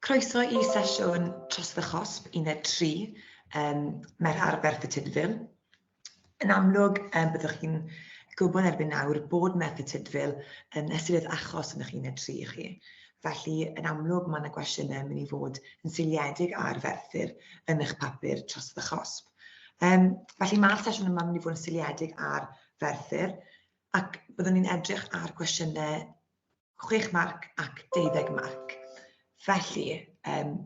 Croeso i sesiwn Trosedd y Chosb Uned 3, um, Merch Arberth y Tydfil. Yn amlwg, um, byddwch chi'n gwybod erbyn nawr bod Merch y Tydfil yn ystyried achos yn eich uned 3 i chi. Felly, yn amlwg, mae yna gwestiynau yn mynd i fod yn seiliedig ar ferthyr yn eich papur tros y chosb. Um, felly, mae'r sesiwn yma yn mynd i fod yn seiliedig ar ferthyr, ac byddwn ni'n edrych ar gwestiynau chwech marc ac deuddeg marc. Felly, um,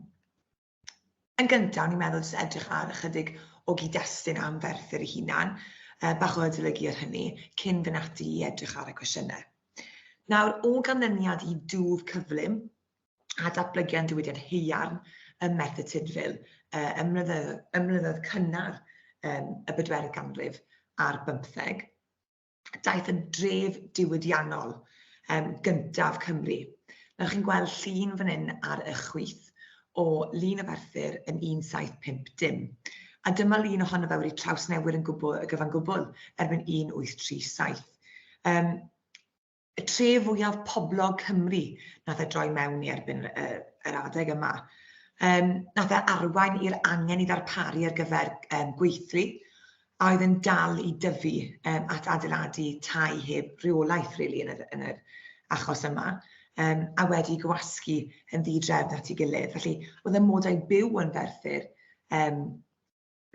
yn gyntaf, ni'n meddwl jyst edrych ar ychydig o gyd-destun am Ferthyr ei hunan, uh, bach o adolygu ar hynny, cyn fy nati i edrych ar y cwestiynau. Nawr, o ganlyniad i dŵf cyflym a datblygiad diwydiant heiarn ym Merthyr Tudful, uh, ymlynyddoedd cynnar um, y bedwerydd ganrif a'r bymtheg, daeth yn dref diwydiannol um, gyntaf Cymru. Nawr chi'n gweld llun fan hyn ar y chwyth o lun y ferthyr yn 1750. A dyma lun ohono fe wedi trawsnewid yn gwbl, y gyfan gwbl erbyn 1837. Um, y tref fwyaf poblog Cymru nath e droi mewn i erbyn y, yr adeg yma. Um, nath e arwain i'r angen i ddarparu ar gyfer um, gweithlu a oedd yn dal i dyfu um, at adeiladu tai heb rheolaeth really, yn, yr, yn yr achos yma um, a wedi gwasgu yn ddi-drefn at ei gilydd. Felly, oedd y modau byw yn ferthyr um,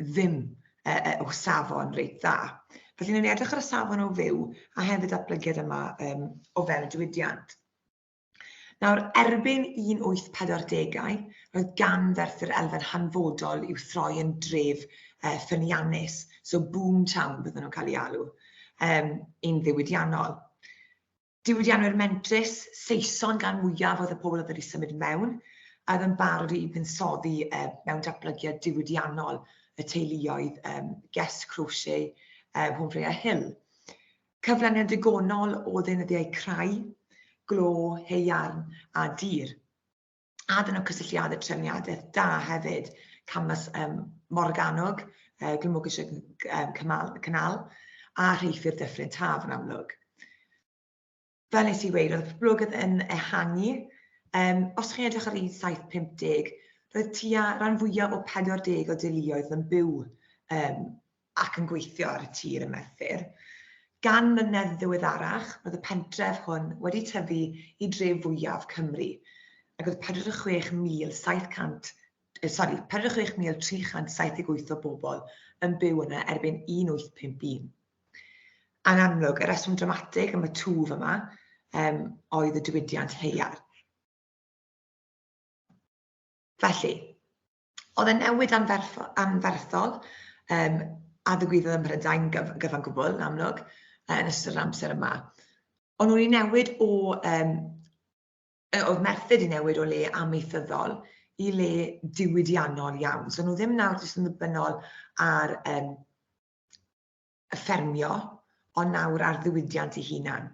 ddim e, e, o safon reit dda. Felly, ni'n edrych ar y safon o fyw a hefyd datblygiad yma um, o fewn y diwydiant. Nawr, erbyn 1840au, roedd gan ferthyr elfen hanfodol i'w throi yn dref uh, ffyniannus, so boom town bydden nhw'n cael ei alw, um, un ddiwydiannol. Diwydiannwyr mentrus, Saeson gan mwyaf oedd y pobl oedd wedi symud mewn, a oedd yn barod i fuddsoddi um, mewn datblygiad diwydiannol y teuluoedd um, Guest Crochet, um, Home Freya Hill. Cyflaniad digonol o ddeunyddiau crai, glo, heiarn a dir. a dyn nhw cysylltiadau trefniadaeth da hefyd, Camas um, Morganog, uh, Glymogysiad um, Cymal, Cynnal, a Rheithir Dyffryn Taf yn amlwg. Fel nes i weid, oedd y poblogaeth yn ehangu. Um, os chi'n edrych ar un 750, roedd tua rhan fwyaf o 40 o deuluoedd yn byw um, ac yn gweithio ar y tir ym Merthyr. Gan mlynedd ddiweddarach, roedd y pentref hwn wedi tyfu i dref fwyaf Cymru, ac oedd 46,700, e, sori, 46,378 o bobl yn byw yna erbyn 1851. Yn amlwg, y reswm dramatig am y twf yma um, oedd y diwydiant heiar. Felly, Oedd e'n newid anferthol, anferthol um, a ddigwyddodd ym Mhrydain gyf, gyfan gwbl, yn amlwg, uh, yn ystod yr amser yma. Ond nhw'n i newid o, um, oedd merthyr i newid o le amaethyddol i le diwydiannol iawn. So nhw ddim nawr jyst yn ddibynnol ar um, y ffermio, ond nawr ar ddiwydiant ei hunan.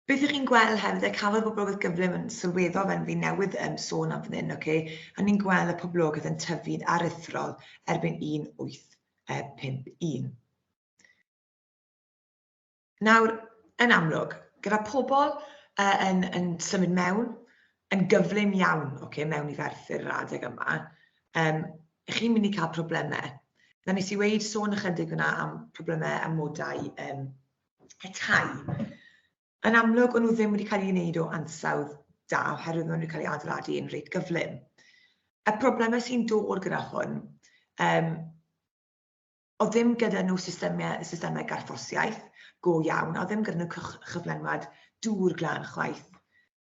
Beth ych chi'n gweld hefyd, a cafodd y poblogaeth gyflym yn sylweddol fel fi newydd um, sôn am fan hyn, okay? a ni'n gweld y poblogaeth yn tyfu'n aruthrol erbyn 1851. Nawr, yn amlwg, gyda pobl uh, yn, yn symud mewn, yn gyflym iawn okay, mewn i ferthyr yr adeg yma, um, chi'n mynd i cael problemau. Na nes i weid sôn ychydig yna am problemau amodau um, y tai. Yn amlwg, o'n nhw ddim wedi cael ei wneud o ansawdd da oherwydd maen nhw wedi cael ei adeiladu yn reit gyflym. Y problemau sy'n dod gyda hwn, um, o ddim gyda nhw systemau, systemau garthosiaeth go iawn, a ddim gyda nhw cyflenwad dŵr glan chwaith.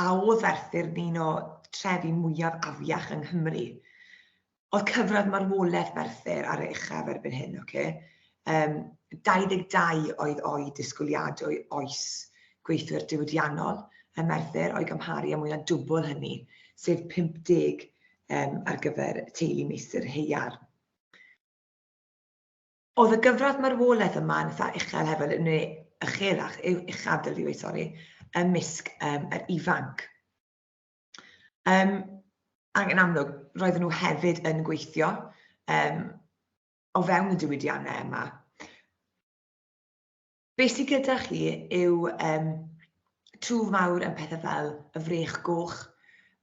a oedd Arthur yn un o trefi mwyaf afiach yng Nghymru. Oedd cyfradd marwolaeth Arthur ar ei uchaf erbyn hyn, oce? Okay? Um, 22 oedd o'i disgwyliadwy oes gweithwyr diwydiannol ym Merthyr o'i gymharu â mwy na dwbl hynny, sef 50 um, ar gyfer teulu meistr heiar. Oedd y gyfradd marwolaeth yma yn eitha uchel hefyd, neu uchelach, yw uchaf dylid dweud, sori, ymysg um, yr ifanc. Um, ac yn amlwg, roedden nhw hefyd yn gweithio um, o fewn y diwydiannau yma. Be sydd gyda chi yw um, twf mawr yn pethau fel y frech goch,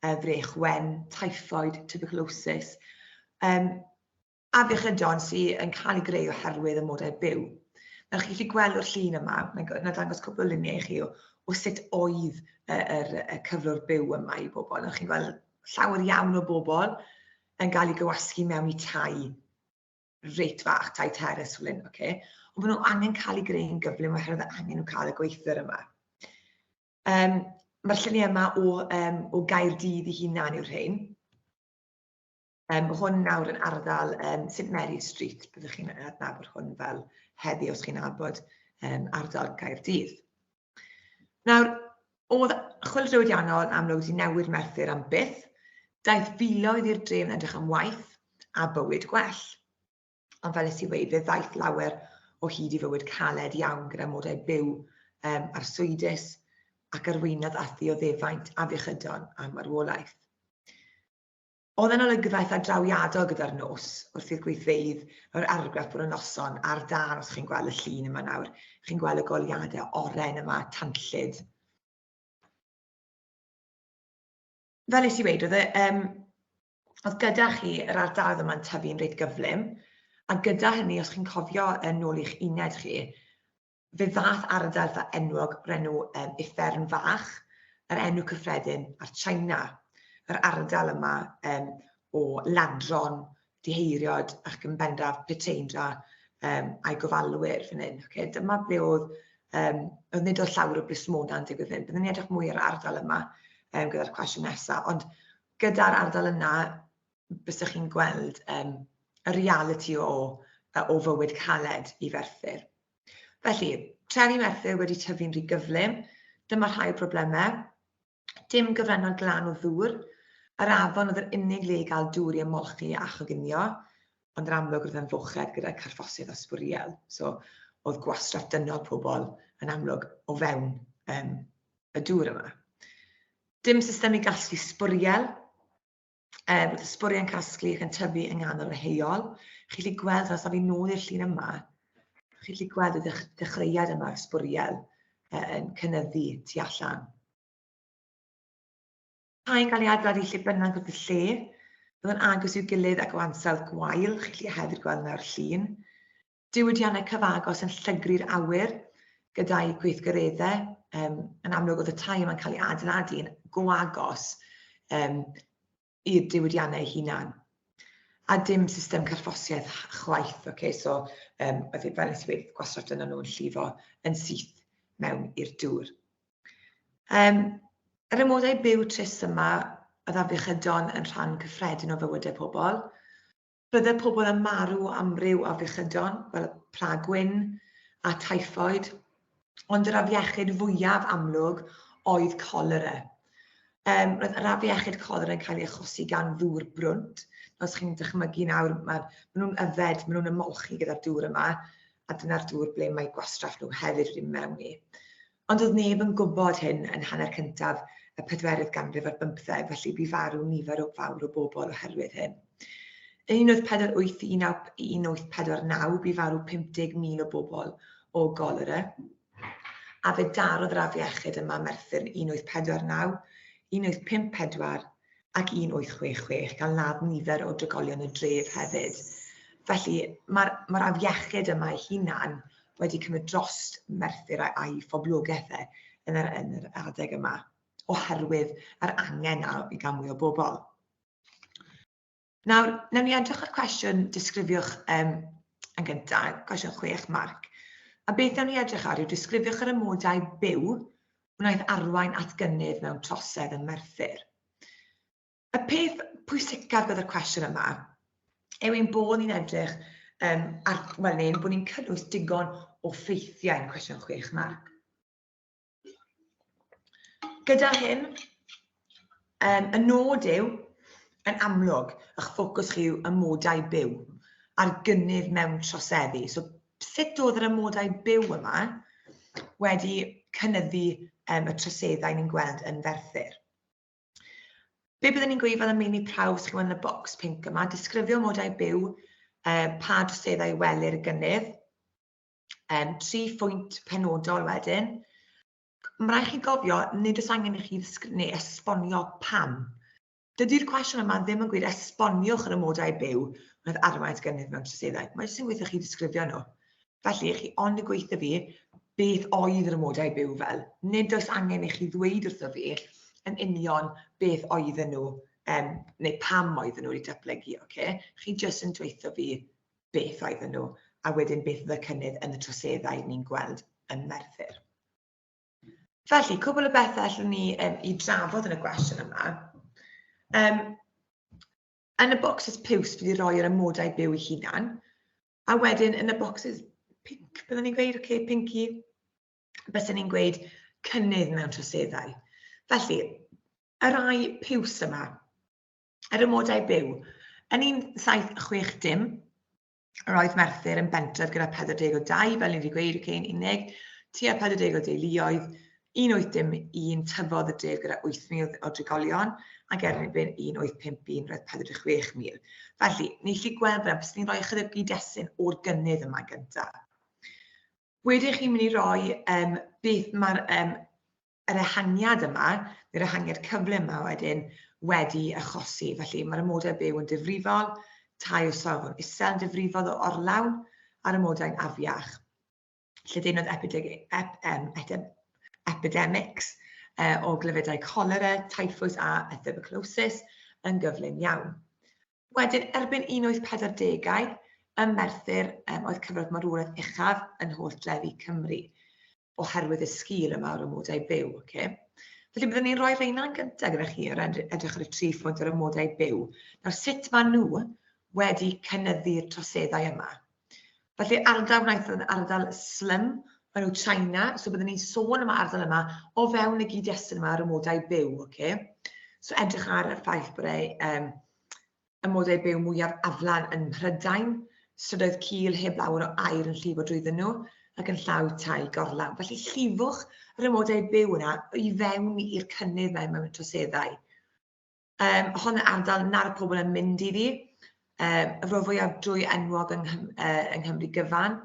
y frech wen, typhoid, tuberculosis. Um, afiechydon sydd yn cael ei greu oherwydd y modau byw. Nawr chi'n gallu gweld o'r llun yma, mae'n dangos cwpl o luniau i chi o, o sut oedd y, yr, y cyflwr byw yma i bobl. Nawr chi'n gweld llawer iawn o bobl yn cael ei gywasgu mewn i tai reit fach, tai teres fel hyn, okay? ond maen nhw angen cael ei greu'n gyflym oherwydd y angen nhw cael y gweithwyr yma. Um, Mae'r lluniau yma o, um, o gair dydd i hunan yw'r rhain. Um, mae hwn nawr yn ardal um, St Mary Street, byddwch chi'n adnabod hwn fel heddi os chi'n abod um, ardal Caerdydd. Nawr, oedd chwil diwydiannol yn amlwg wedi newid Merthyr am byth, daeth filoedd i'r dref yn edrych am waith a bywyd gwell. Ond fel ys i wedi, fe ddaeth lawer o hyd i fywyd caled iawn gyda modau byw um, arswydus ac arweinydd a ddioddefaint afiechydon a marwolaeth. Oedd e'n olygfaith a drawiadol gyda'r nos wrth i'r gweithfeydd yr argraff bod y noson ar dân os chi'n gweld y llun yma nawr. Chi'n gweld y goliadau oren yma, tanllyd. Fel nes i weid, oedd, e, um, oedd gyda chi yr ardaloedd yma'n tyfu'n reit gyflym, a gyda hynny, os chi'n cofio yn ôl i'ch uned chi, Fe ddaeth ardal fy enwog brenw um, Uffern Fach, yr enw cyffredin ar China. Yr ardal yma um, o ladron, diheiriod ac yn bendraf Peteindra um, a'i gofalwyr fan hyn. Okay? Dyma ble oedd, um, oedd nid oedd llawr o blismona yn digwydd hyn. Byddwn ni'n edrych mwy ar ardal yma um, gyda'r cwestiwn nesaf, ond gyda'r ardal yna, bysach chi'n gweld um, y reality o, o fywyd caled i Ferthyr. Felly, trefi Merthyr wedi tyfu'n rhy gyflym, dyma rhai problemau. Dim gyfrannol glan o ddŵr, yr afon oedd yr unig le i gael dŵr i ymolchi a choginio, ond yr amlwg roedd yn fochedd gyda carffosydd o sbwriel. So, oedd gwastraff dynol pobl yn amlwg o fewn um, y dŵr yma. Dim system i gasglu sbwriel, e, bod y sbwriau'n casglu ac yn tyfu yng nghanol y heol. Chi'n gallu gweld, os fi nôl i'r llun yma, chi'n gallu gweld y dechreuad yma, sbwriel yn cynnyddu tu allan. Rhain gael ei adeiladu lle bynnag wrth y lle, byddwn agos i'w gilydd ac o ansawdd gwael, chi'n gallu hefyd gweld yna'r llun. Diwydiannau cyfagos yn llygru'r awyr gyda'i gweithgareddau. Um, yn amlwg oedd y tai yma'n cael ei adeiladu yn go agos um, i'r diwydiannau hunan. A dim system carffosiaeth chwaith, okay? so um, oedd e fel nes i wedi gwastraff dyna nhw'n llifo yn syth mewn i'r dŵr. Um, yr ymwodau byw tris yma, oedd afiechydon yn rhan cyffredin o fywydau pobl, Bydde pobl yn marw o amryw afiechydon, fel y pla gwyn a typhoid, ond yr afiechyd fwyaf amlwg oedd colera. Um, roedd yr afiechyd colera yn cael ei achosi gan ddŵr brwnt. Os chi'n dychmygu nawr, maen ma nhw'n yfed, maen nhw'n ymolchi gyda'r dŵr yma, a dyna'r dŵr ble mae gwastraff nhw hefyd wedi mewn i. Ond doedd neb yn gwybod hyn yn hanner cyntaf y pedwerydd ganrif ar bymtheg, felly bu farw nifer o fawr o bobl oherwydd hyn. Yn 1841-1849 bu farw 50,000 o bobl o golera, a fe darodd yr afiechyd yma Merthyr yn 1849, 1854, ac 1866 gan ladd nifer o drigolion y dref hefyd. Felly, mae'r ma afiechyd yma ei hunan wedi cymryd dros Merthyr a'i phoblogaeth e yn yr, yn yr adeg yma, oherwydd yr angen i gael mwy o bobl. Nawr, newn ni edrych ar cwestiwn disgrifiwch um, yn gyntaf, cwestiwn chwech, Marc. A beth newn ni edrych ar yw disgrifiwch yr amodau byw wnaeth arwain at gynnydd mewn trosedd yn Merthyr. Y peth pwysicaf gyda'r cwestiwn yma yw ein bod ni'n edrych um, ar, wel, neu bod ni'n cynnwys digon o ffeithiau yn cwestiwn chwech, Marc. Gyda hyn, Yym, y nod yw, yn amlwg, ych ffocws chi yw amodau byw a'r gynnydd mewn troseddu. So sut oedd yr amodau byw yma wedi cynnyddu um, y troseddau ni'n gweld yn ferthyr. Be byddwn ni'n gweithio fel y meini prawf sy'n gwneud y bocs pink yma, disgrifio modau byw, uh, pa droseddau welir y gynnydd, um, tri phwynt penodol wedyn, Mae'n rhaid chi gofio, nid oes angen i chi neu esbonio pam. Dydy'r cwestiwn yma ddim yn gwneud esboniwch yr amodau byw oedd arwain gynnydd mewn troseddau. Mae jyst yn gweithio chi ddisgrifio nhw. Felly, chi ond yn gweithio fi beth oedd yr amodau byw fel. Nid oes angen i chi ddweud wrtho fi yn union beth oedd nhw, um, neu pam oedd nhw wedi datblygu, oce? Okay? Chi jyst yn dweithio fi beth oedden nhw, a wedyn beth oedd y cynnydd yn y troseddau ni'n gweld yn Merthyr. Felly, cwbl o bethau allwn ni um, i drafod yn y gwestiwn yma. Um, yn y bocsys piws, fi wedi rhoi yr amodau byw i hunan, a wedyn yn y bocsys pink, byddwn ni'n gweud, oce, okay, pinky, byddwn ni'n gweud cynnydd mewn troseddau. Felly, y rai piws yma, yr amodau byw. Yn 1760, yr oedd Merthyr yn bentref gyda 40 o dau, fel ni wedi gweud, y cyn unig, tua 40 o deuluoedd, 1801 tyfodd y dref gyda 8,000 o drigolion, ac erbyn 1851 roedd 46,000. Felly, ni chi gweld fel bys ni'n rhoi ychydig gyd-destun o'r gynnydd yma gyntaf. Wedyn chi'n mynd i roi um, beth mae'r um, yr ehangiad yma, yr ehangiad cyflym yma wedyn, wedi achosi. Felly mae'r amodau byw yn difrifol, tai o safon isel yn difrifol o orlawn a'r amodau'n afiach. Lledaenodd epidemics e, o glyfedau cholera, typhus a etheboclosis yn gyflym iawn. Wedyn, erbyn 1840au, ym Merthyr um, oedd cyfradd marwolaeth uchaf yn holl drefi Cymru. oherwydd y sgil yma o'r amodau byw. Okay? Felly byddwn ni'n rhoi reina'n gyntaf gyda chi ar edrych ar y tri phwynt o'r amodau byw. Nawr sut maen nhw wedi cynyddu'r troseddau yma? Felly ardal wnaeth yn ardal slym, maen nhw China, so byddwn ni'n sôn am ardal yma o fewn y gyd-destun yma ar amodau byw. Okay? So edrych ar y ffaith bod ei um, y modau byw mwyaf aflan yn Mhrydain, strydoedd cul heb lawer o aer yn llifo drwyddyn nhw ac yn llaw tai gorlawn. Felly llifwch yr amodau byw yna i fewn i'r cynnydd mae mewn troseddau. Um, hon yn ardal na'r pobl yn mynd iddi, um, y rho fwyaf drwy enwog yng, uh, yng Nghymru gyfan,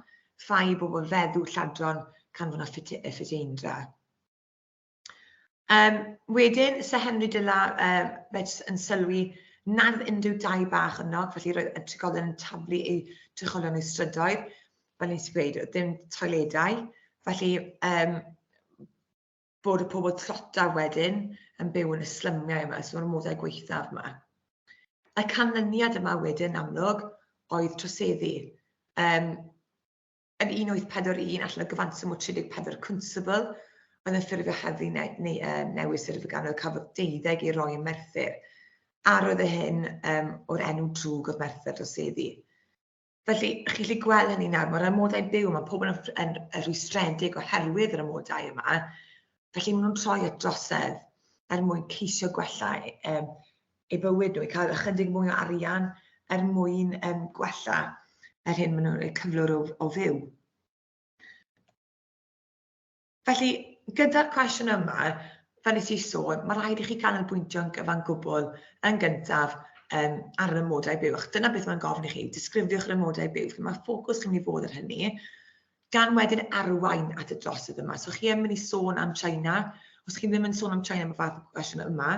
ffai i bobl feddw lladron canfod a ffiteindra. Um, wedyn, Sir Henry Dyla, um, fe jyst yn sylwi nad unrhyw dau bach yno, felly roedd y trigolion yn taflu eu trigolion eu strydoedd, fel nes i ddweud, oedd dim toiledau, felly um, bod y pobl tlota wedyn yn byw yn y slymiau yma, sy'n ormodau gweithaf yma. Y canlyniad yma wedyn amlwg oedd troseddu. Um, yn 1841 allan o gyfanswm o 34 cwnsibl oedd yn ffurfio heddlu neu, neu uh, newydd sef y ganol cafodd deuddeg ei roi yn Merthyr, a roedd y hyn um, o'r enw drwg oedd Merthyr dros eddi. Felly, chi'n gallu gweld hynny nawr, mae'r amodau byw, mae pobl yn, yn, yn rhwystredig oherwydd yr amodau yma, felly maen nhw'n troi at drosedd er mwyn ceisio gwella um, eu bywyd nhw, i cael ychydig mwy o arian er mwyn um, gwella yr hyn maen nhw'n eu cyflwr o, o fyw. Felly, gyda'r cwestiwn yma, fel nes i sôn, mae rhaid i chi canolbwyntio'n gyfan gwbl yn gyntaf um, ar yr ymodau byw. Ac dyna beth mae'n gofyn i chi, disgrifiwch yr ymodau byw. Felly, mae ffocws chi'n mynd i fod ar hynny. gan wedyn arwain at y drosodd yma. So chi yn mynd i sôn am China, os chi ddim yn sôn am China am y fath o gwestiwn yma,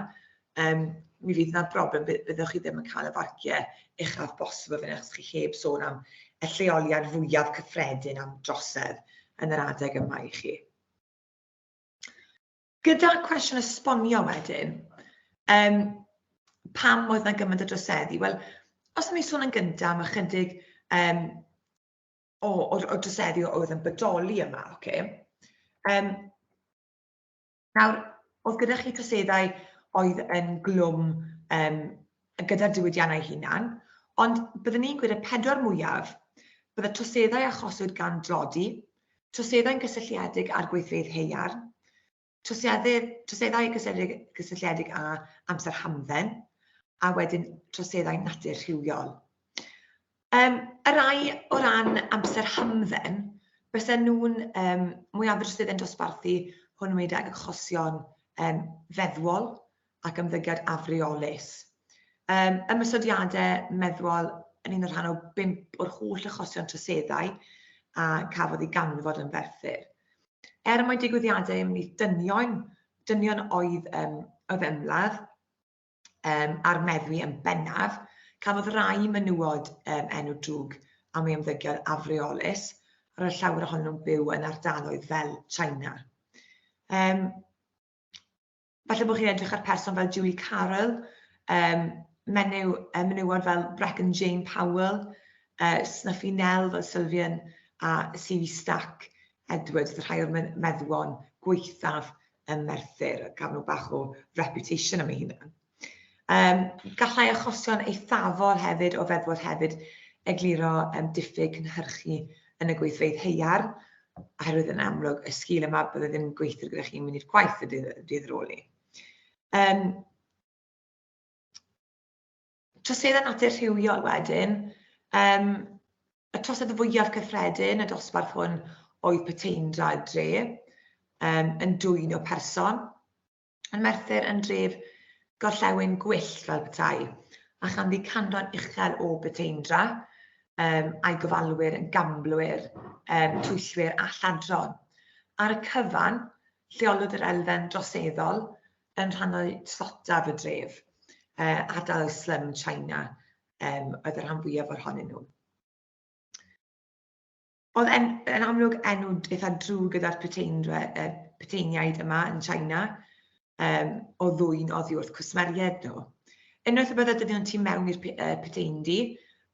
um, mi fydd yna broblem, byddwch chi ddim yn cael y farciau uchaf bosib o fyny, achos chi heb sôn am y lleoliad fwyaf cyffredin am drosedd yn yr adeg yma i chi. Gyda cwestiwn esbonio wedyn, um, pam oedd yna gymaint o droseddu? Wel, os ydym ni'n sôn yn gyntaf am ychydig um, o, o, o drosedi oedd yn bodoli yma, oce? Okay? Um, nawr, oedd gyda chi troseddau oedd yn glwm um, gyda'r diwydiannau hunan, ond byddwn ni'n gwneud y pedwar mwyaf, bydd y troseddau achoswyd gan drodi, troseddau'n gysylltiedig â'r gweithfeydd heiar, Troseddau, troseddau gysylltiedig, gysylltiedig â amser hamdden, a wedyn troseddau natur rhywiol. Um, y rai o ran amser hamdden, bysen nhw'n um, mwyafrif sydd yn dosbarthu hwnnw i ag achosion um, feddwol, ac ymddygiad afreolus. Um, ymysodiadau meddwl yn un o'r rhan o bimp o'r holl achosion troseddau a cafodd ei ganfod yn ferthyr. Er mae digwyddiadau ymwneud dynion, dynion oedd um, oedd ymladd um, a'r meddwi yn bennaf, cafodd rai menywod um, enw drwg am ei ymddygiad afreolus, ar y llawer ohonyn nhw'n byw yn ardaloedd fel China. Um, Falle bod chi'n edrych ar person fel Julie Carroll, um, menyw, um, menywod fel Brecken Jane Powell, uh, Snuffy Nell fel Sylvian, a CV Stack Edwards, oedd rhai o'r meddwon gweithaf ym Merthyr, a gaf nhw bach o reputation am ei hunan. Yym, gallai achosion eithafol hefyd o feddwod hefyd egluro yym diffyg cynhyrchu yn y gweithfeydd haear, oherwydd yn amlwg y sgil yma bydde ddim gweithwyr gyda chi'n mynd i'r gwaith y dydd, dydd ar ôl 'ny. Yym, troseddau natur rhywiol wedyn, um, y trosedd fwyaf cyffredin y dosbarth hwn oedd peteindra dre, um, yn dwy'n o person, Yn Merthyr yn dref gorllewin gwyllt fel petai, a chanddi canran uchel o Beteindra, um, a'i gofalwyr yn gamblwyr, um, twyllwyr a lladron. Ar y cyfan, lleolwyd yr elfen droseddol yn rhannau tlotaf y dref, uh, ardal y slum China um, oedd y rhan fwyaf o'r honyn nhw. Oedd en, yn amlwg enw eitha drwg gyda'r peteiniaid yma yn China, um, o ddwy'n oddi wrth cwsmeriaid nhw. Unwaith y byddai dyddion tu mewn i'r peteind-i,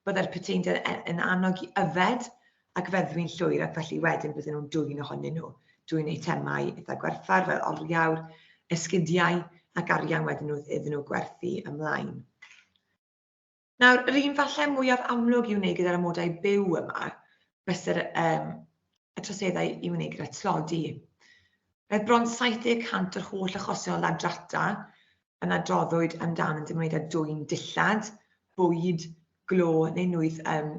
byddai'r peteind yn, yn annog i yfed ac feddwi'n llwyr ac felly wedyn bydden nhw'n dwy'n ohonyn nhw. Dwy'n eitemau eitha gwerthfawr fel oriawr, esgidiau ac arian wedyn nhw iddyn nhw gwerthu ymlaen. Nawr, yr un falle mwyaf amlwg i wneud gyda'r amodau byw yma, bysai'r um, y troseddau i wneud gyda tlodi. Roedd bron 70% o'r holl achosion o drata yn adroddwyd amdan yn dymwneud â dwy'n dillad, bwyd, glo neu nwydd um,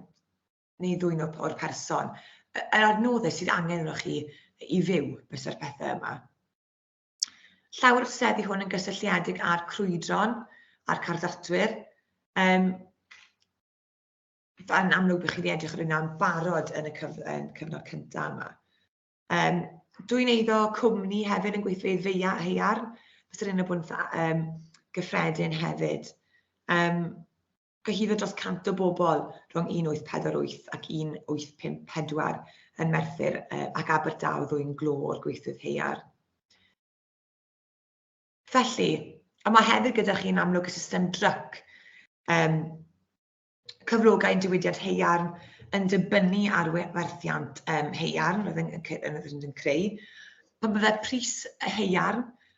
neu ddwy'n o'r person. Yr adnoddau sydd angen yno chi i fyw bysau'r pethau yma. Llawer o seddi hwn yn gysylltiedig â'r crwydron a'r carddatwyr. Um, yn amlwg bych chi wedi edrych ar hynna yn barod yn y cyf yn cyfnod cyntaf yma. Um, Dwi'n eiddo cwmni hefyd yn gweithio i ddeia a heiar, bys yr un o bwnt um, gyffredin hefyd. Um, Cyhuddo dros 100 o bobl rhwng 1848 ac 1854 yn Merthyr ac Aberdaw ddwyn glo o'r gweithwyr haearn. Felly, a mae hefyd gyda chi yn amlwg y system dryc, um, cyflogau yn diwydiant heiarn yn dibynnu ar werthiant um, heiarn roedd yn, yn, yn, yn creu. Pan byddai pris heiarn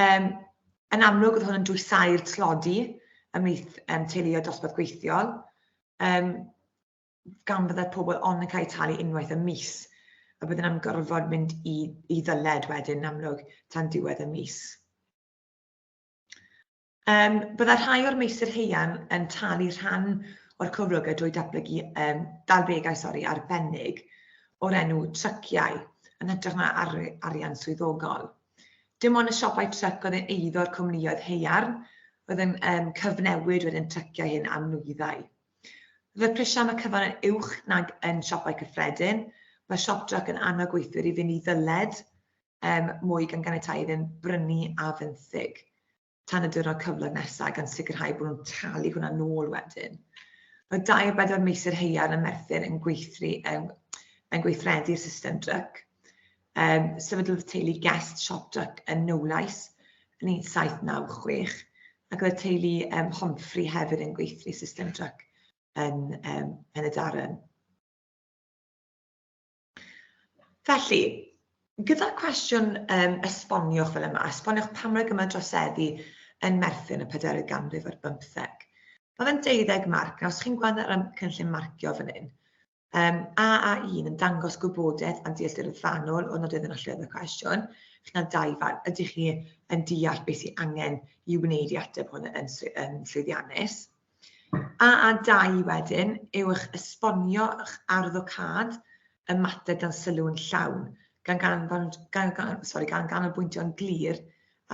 Um, yn amlwg, oedd hwn yn dwysau'r tlodi ymlaeth um, teuluoedd dosbarth gweithiol, um, gan byddai pobl ond yn cael eu talu unwaith y mis, a byddwn am gorfod mynd i, i ddyled wedyn yn amlwg tan diwedd y mis. Um, byddai rhai o'r meysydd heian yn talu rhan o'r cyflogau drwy datblygu um, dalbegau sori, arbennig o'r enw tryciau yn hytrach na ar, arian swyddogol. Dim ond y siopau tryc oedd yn eiddo'r cwmnïoedd heiarn oedd yn um, cyfnewid wedyn tryciau hyn am nwyddau. Fy prisiau am y cyfan yn uwch nag yn siopau cyffredin. Mae siop drac yn annog gweithwyr i fynd i ddyled um, mwy gan ganiatáu iddyn brynu a fenthyg tan y diwrnod cyflog nesaf gan sicrhau bod nhw'n talu hwnna nôl wedyn. Mae 24 meiser heiar yn Merthyr yn, gweithri, yn, yn gweithredu'r system dryc. Um, sefydlodd teulu Guest Shop Dryc yn Newlais yn 1796 ac oedd y teulu um, Homfri hefyd yn gweithri system dryc yn, um, yn y darren. Felly, gyda'r cwestiwn um, esboniwch fel yma, esboniwch pam roedd gymaint droseddu yn merthu yn y 40 ganrif ar bymtheg. Mae fe'n deuddeg marc, a os chi'n gweld ar y cynllun marcio fan hyn, um, AA1 yn dangos gwybodaeth am dealltwriaeth fanwl o nodydd yn allwedd y cwestiwn, chi'n cael dau fan, ydych chi yn deall beth sy'n angen i wneud i ateb hwn yn, yn llwyddiannus? A a dau wedyn yw eich esbonio eich arddocâd y mater dan sylw yn llawn, gan ganfan, gan, gan, sorry, gan ganolbwyntio'n glir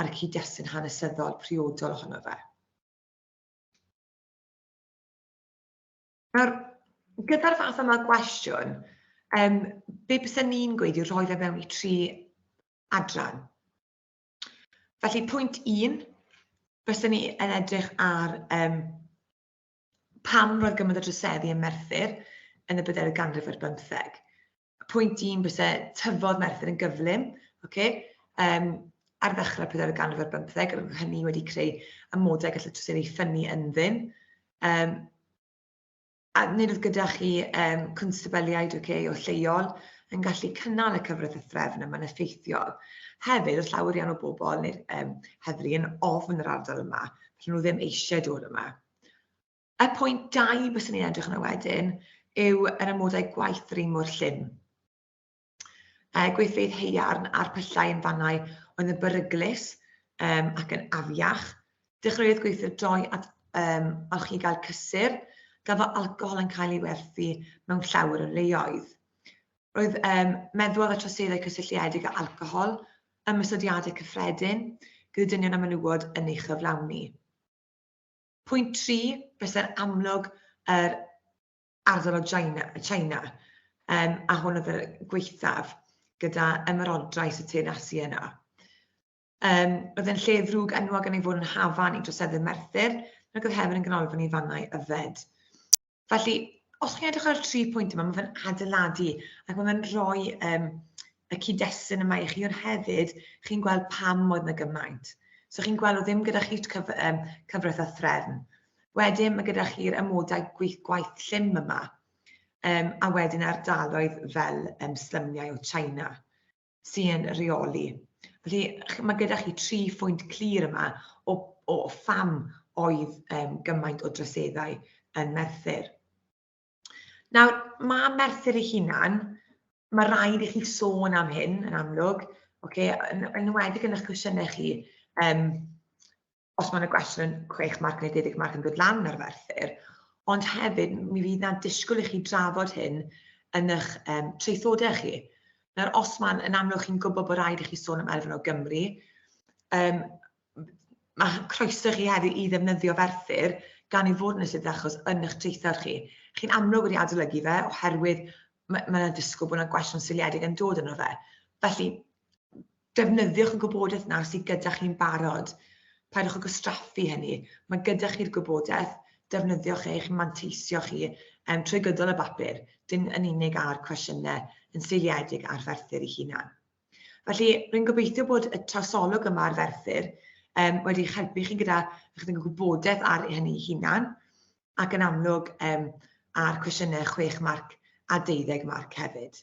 ar y cyd-destun hanesyddol priodol ohono fe. Nawr, gyda'r fath yma gwestiwn, um, be bys ni'n gweud yw rhoi fe mewn i tri adran. Felly pwynt un, fyswn ni yn edrych ar um, pam roedd gymaint o droseddu yn Merthyr yn y byddai'r ganrif ar bymtheg. Pwynt un, bysau tyfodd Merthyr yn gyflym, okay? um, ar ddechrau pedair y ganrif ar bymtheg, roedd hynny wedi creu amodau gallu troseddu ffynnu ynddyn. Um, A nid oedd gyda chi um, cwnstabeliaid okay, o lleol yn gallu cynnal y cyfraith y threfn yma'n effeithiol. Hefyd, oedd llawer iawn o bobl neu'r um, heddlu yn ofn yr ardal yma, felly nhw ddim eisiau dod yma. Y pwynt dau bys ni'n edrych yna wedyn yw yr amodau gwaith yr un mor llym. uh, gweithfeydd heiarn a'r pyllau yn fannau oedd yn beryglus um, ac yn afiach. Dechreuodd gweithio droi at um, alch i gael cysur, gan fod alcohol yn cael ei werthu mewn llawer o leoedd. Roedd um, meddwl ar y troseddau cysylltiedig â alcohol, ymysodiadau cyffredin, gyda dynion a menywod yn ei chyflawni. Pwynt 3, bysau'r amlwg yr Ardal China, China um, a hwn oedd y gweithaf gyda ymerodraeth y tyn asi yna. Um, oedd yn lle ddrwg enwog yn ei fod yn hafan i droseddu Merthyr, ac oedd hefyd yn ganolfan i fannau yfed. Felly, os chi'n edrych ar y tri pwynt yma, mae fe'n adeiladu ac mae fe'n rhoi um, y cyd-destun yma i chi, ond hefyd chi'n gweld pam oedd yna gymaint. So chi'n gweld o ddim gyda chi cyf um, cyfraith a threfn. Wedyn mae gyda chi'r amodau gweith, gwaith llym yma, um, a wedyn ardaloedd fel um, slymiau o China sy'n reoli. Felly mae gyda chi tri phwynt clir yma o, o pham oedd um, gymaint o droseddau yn Merthyr. Nawr, mae Merthyr ei hunan, mae rhaid i chi sôn am hyn yn amlwg, okay, yn, yn enwedig yn eich cwestiynau chi, um, os mae'n y gwestiwn 6 marc neu 10 marc yn dod lan ar ferthyr, ond hefyd mi fydd yna disgwyl i chi drafod hyn yn eich um, treithodau chi. Nawr, os mae'n yn amlwg chi'n gwybod bod rhaid i chi sôn am elfen o Gymru, um, mae croeso chi hefyd i ddefnyddio Ferthyr gan ei fod yn ystod achos yn eich traethawd chi. Chi'n amlwg wedi adolygu fe oherwydd mae yna ddisgwyl bod yna gwestiwn seiliedig yn dod yno fe. Felly, defnyddiwch y gwybodaeth yna sydd gyda chi'n barod. Paidwch â gwastraffu hynny. Mae gyda chi'r gwybodaeth, defnyddiwch eich manteisio chi um, trwy gydol y bapur, dim yn unig ar cwestiynau yn seiliedig ar ferthyr ei hunan. Felly, rwy'n gobeithio bod y trosolwg yma ar Ferthyr um, wedi eich helpu chi gyda chydig o gwybodaeth ar hynny hunan, ac yn amlwg um, ar cwestiynau 6 marc a 12 marc hefyd.